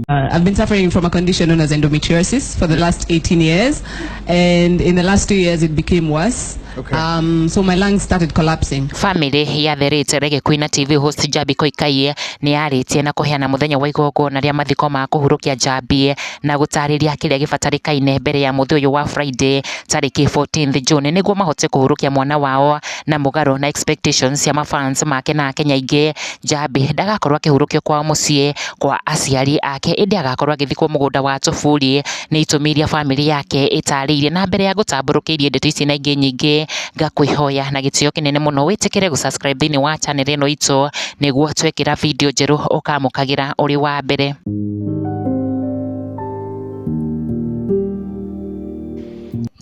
Uh, I've been suffering from a condition known as endometriosis for the last 18 years, and in the last two years it became worse. Okay. Um, so my lungs started collapsing. Family ya The Rate Reggae Queen na TV host Jabi Koikaie nĩ yarĩtie na kũheana mũthenya wa igongona rĩa mathiko ma kũhurũkia Njambi na gũtarĩria kĩrĩa gĩbatarĩkaine mbere ya mũthĩ ũyũ wa Friday tarĩki 14th June nĩguo mahote kũhurũkia mwana wao na mũgarũ na expectations cia ma fans make na Akenya aingĩ, Njambi ndagakorwo akĩhurũkio kwao mũciĩ kwa aciari ake, ĩndĩ agakorwo agĩthikwo mũgũnda wa Tũburi, nĩ itũmi iria bamĩrĩ yake ĩtarĩirie. Na mbere ya ngũtambũrũkĩirie ndeto ici na ingĩ nyingĩ, ngakũĩhoya na gĩtĩo kĩnene mũno wĩtĩkĩre gũ subscribe thĩinĩ wa channel ĩno itũ, nĩguo twekĩra video njerũ ũkamũkagĩra ũrĩ wa mbere.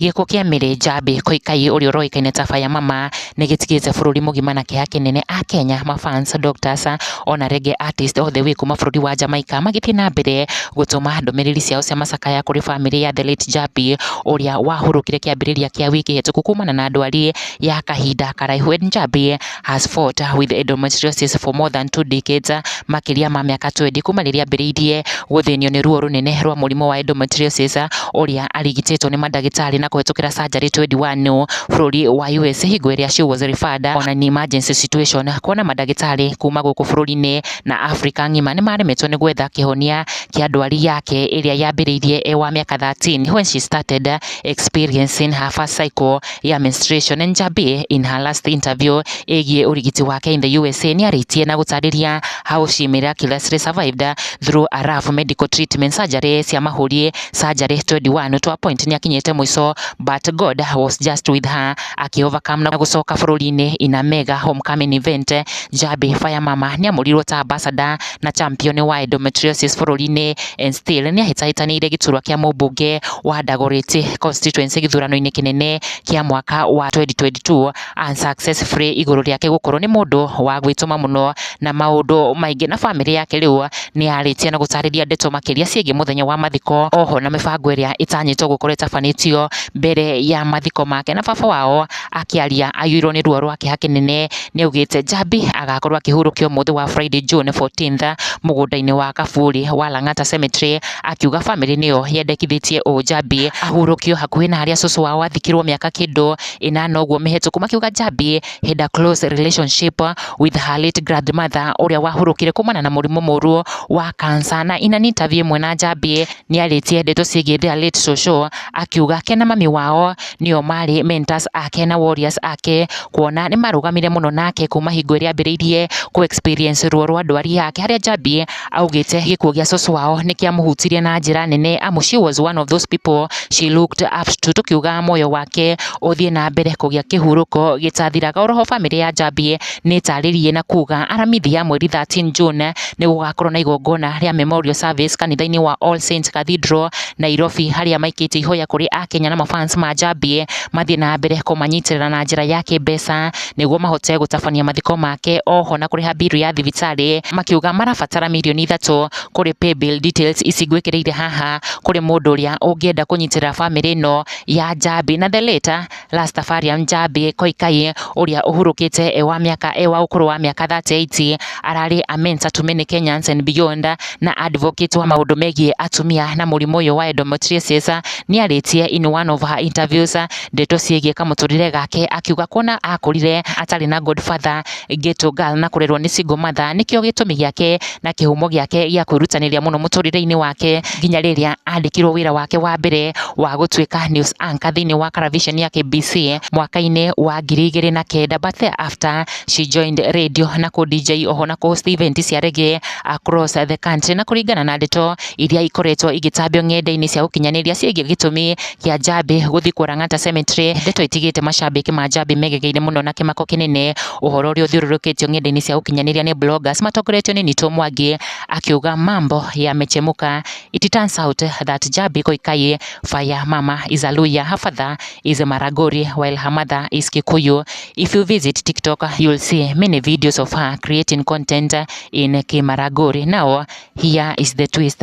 Gĩko kĩa Mary Njambi Koikai ũrĩa ũroĩkaine ta Faya Mama nĩ gĩtigĩte bũrũri mũgima na kĩeha kĩnene a Kenya, ma fans, doctors ona Reggae artists othe wĩ kuma bũrũri wa Jamaica magĩthiĩ na mbere gũtũma ndũmĩrĩri ciao cia macakaya kũrĩ bamĩrĩ ya The late Njambi ũrĩa wahurũkire kĩambĩrĩria kĩa wiki hĩtũku kumana na ndwari ya kahinda karaihu. Njambi... has fought with endometriosis for more than two decades, makĩria ma mĩaka 20 kuma rĩrĩa ambĩrĩirie gũthĩnio nĩ ruo rũnene rwa mũrimũ wa endometriosis, ũrĩa arigitĩtwo nĩ mandagĩtarĩ na kũhetũkĩra surgery 21 bũrũri wa US hingo ĩrĩa she was referred on an emergency situation kuona mandagĩtarĩ kuma gũkũ bũrũri-inĩ na Africa ng'ima nĩ maremetwo nĩ gwetha kĩhonia kĩa ndwari yake ĩrĩa yambĩrĩirie e wa mĩaka 13 when she started experiencing her first cycle ya menstruation Njambi in her last interview ĩgiĩ ũrigiti wake in the USA nĩarĩtie na gũtarĩria how she miraculously survived through a rough medical treatment surgery cia mahũri surgery 21 to a point nĩakinyĩte mũico but God was just with her akĩ overcome na gũcoka bũrũri-inĩ in a mega homecoming event Njambi Fire Mama nĩamũrirwo ta ambassador na champion wa endometriosis bũrũri-inĩ Enstil nĩ ahĩtahĩtanĩire gĩturwa kĩa mũmbunge wa Dagoretti constituency gĩthurano-inĩ kĩnene kĩa mwaka wa 2022 unsuccessfully igũrũ rĩake gũkorwo nĩ mũndũ wa gwĩtũma mũno na maũndũ maingĩ na bamĩrĩ yake rĩu nĩ yarĩtie na gũtarĩria ndeto makĩria ciĩgiĩ mũthenya wa mathiko oho na mĩbango ĩrĩa ĩtanyĩtwo gũkorwo ĩtabanĩtio mbere ya mathiko make na baba wao Akĩaria aiyũirwo nĩ ruo rwa kĩeha kĩnene, nĩ augĩte Njambi agakorwo akĩhurũkio ũmũthĩ wa Friday June 14th mũgũnda-inĩ wa Kaburi wa Lang'ata Cemetery, akiuga bamĩrĩ nĩyo yendekithĩtie ũũ Njambi ahurũkio hakuhĩ na harĩa cũcũ wao athikirwo mĩaka kĩndũ ĩnana ũguo mĩhĩtũku, makiuga Njambi had a close relationship with her late grandmother ũrĩa wahurũkire kumana na mũrimũ mũru wa cancer. Na in an interview ĩmwe na Njambi nĩ arĩtie ndeto ciĩgiĩ their late cũcũ akiuga ke na mami wao nĩo marĩ mentors ake na warriors ake, kuona nĩ marũgamire mũno nake kuma hingo ĩrĩa ambĩrĩirie kũ experience ruo rwa ndwari yake, harĩa Njambi augĩte gĩkuũ gĩa cũcũ wao nĩ kĩamũhutirie na njĩra nene, amu she was one of those people she looked up to, tũkiuga muoyo wake ũthiĩ na mbere kũgĩa kĩhurũko gĩtathiraga, oro ho bamĩrĩ ya Njambi. nĩ ĩtarĩrie na kuga aramithi ya mweri 13 June nĩ gũgakorwo na igongona rĩa memorial service kanitha-inĩ wa All Saints Cathedral Nairobi, harĩa maikĩtie ihoya kũrĩ Akenya na mafans ma Njambi mathiĩ na mbere kũmanyitĩrĩra na njĩra ya kĩmbeca nĩguo mahote gũtabania mathiko make oho na kũrĩha biru ya thibitarĩ, makiuga marabatara mirioni ithatũ kũrĩ paybill details ici ngwĩkĩrĩire haha kũrĩ mũndũ ũrĩa ũngĩenda kũnyitĩrĩra bamĩrĩ ĩno ya Njambi na the late. Rastafarian Jabi Koikai ũrĩa ũhurũkĩte e wa mĩaka e wa ũkũrũ wa mĩaka 38 ararĩ a mentor to many Kenyans and beyond na advocate wa maũndũ megiĩ atumia na mũrimũ ũyũ wa endometriosis nĩarĩtie in one of her interviews ndeto ciĩgiĩ kamũtũrĩre gake akiuga kuona akũrire atarĩ na godfather Geto Gal na kũrerwo nĩ Single Mother nĩkĩo gĩtũmi gĩake na kĩhumo gĩake gĩa kwĩrutanĩria mũno mũtũrĩre-inĩ wake nginya rĩrĩa andĩkirwo wĩra wake wa mbere wa gũtuĩka news anchor thĩinĩ wa Karavision ya KBC mwaka-inĩ wa ngiri igĩrĩ na kenda but thereafter she joined radio na kũ DJ oho na kũ host event cia reggae across the country na kũringana na ndeto iria ikoretwo igĩtambio ng'enda-inĩ cia ũkinyanĩria ciĩgiĩ gĩtũmi kĩa Njambi gũthiĩ kwa Lang'ata Cemetery, ndeto itigĩte macambĩki ma Njambi megegeirie mũno na kĩmako kĩnene, ũhoro ũrĩa ũthiũrũrũkĩtio ng'enda-inĩ cia ũkinyanĩria nĩ bloggers matongoretio nĩ Nitũ Mwangi, akiuga mambo yamechemuka, it turns out that Njambi Koikai fire mama is a Luhya, her father is Maragoli while her mother is Kikuyu, if you visit TikTok you'll see many videos of her creating content in Kimaragoli, now here is the twist.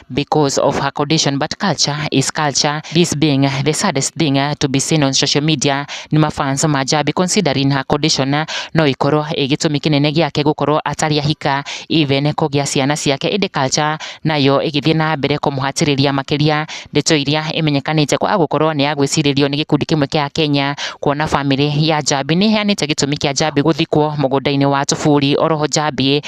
because of her condition but culture is culture this being the saddest thing uh, to be seen on social media nĩ mafans ma Njabi considering her condition uh, no ikorwo ĩ gĩtũmi kĩnene gĩake gũkorwo atarĩ ahika even kũgĩa ciana ciake ĩndĩ culture nayo ĩgĩthiĩ na mbere kũmũhatĩrĩria makĩria ndeto iria ĩmenyekanĩte kwa gũkorwo nĩ ya gwĩcirĩrio nĩ gĩkundi kĩmwe kĩa Kenya kuona famĩlĩ ya Njabi nĩ ĩheanĩte gĩtũmi kĩa Njabi gũthikwo mũgũnda-inĩ wa Tũburi oroho Njabi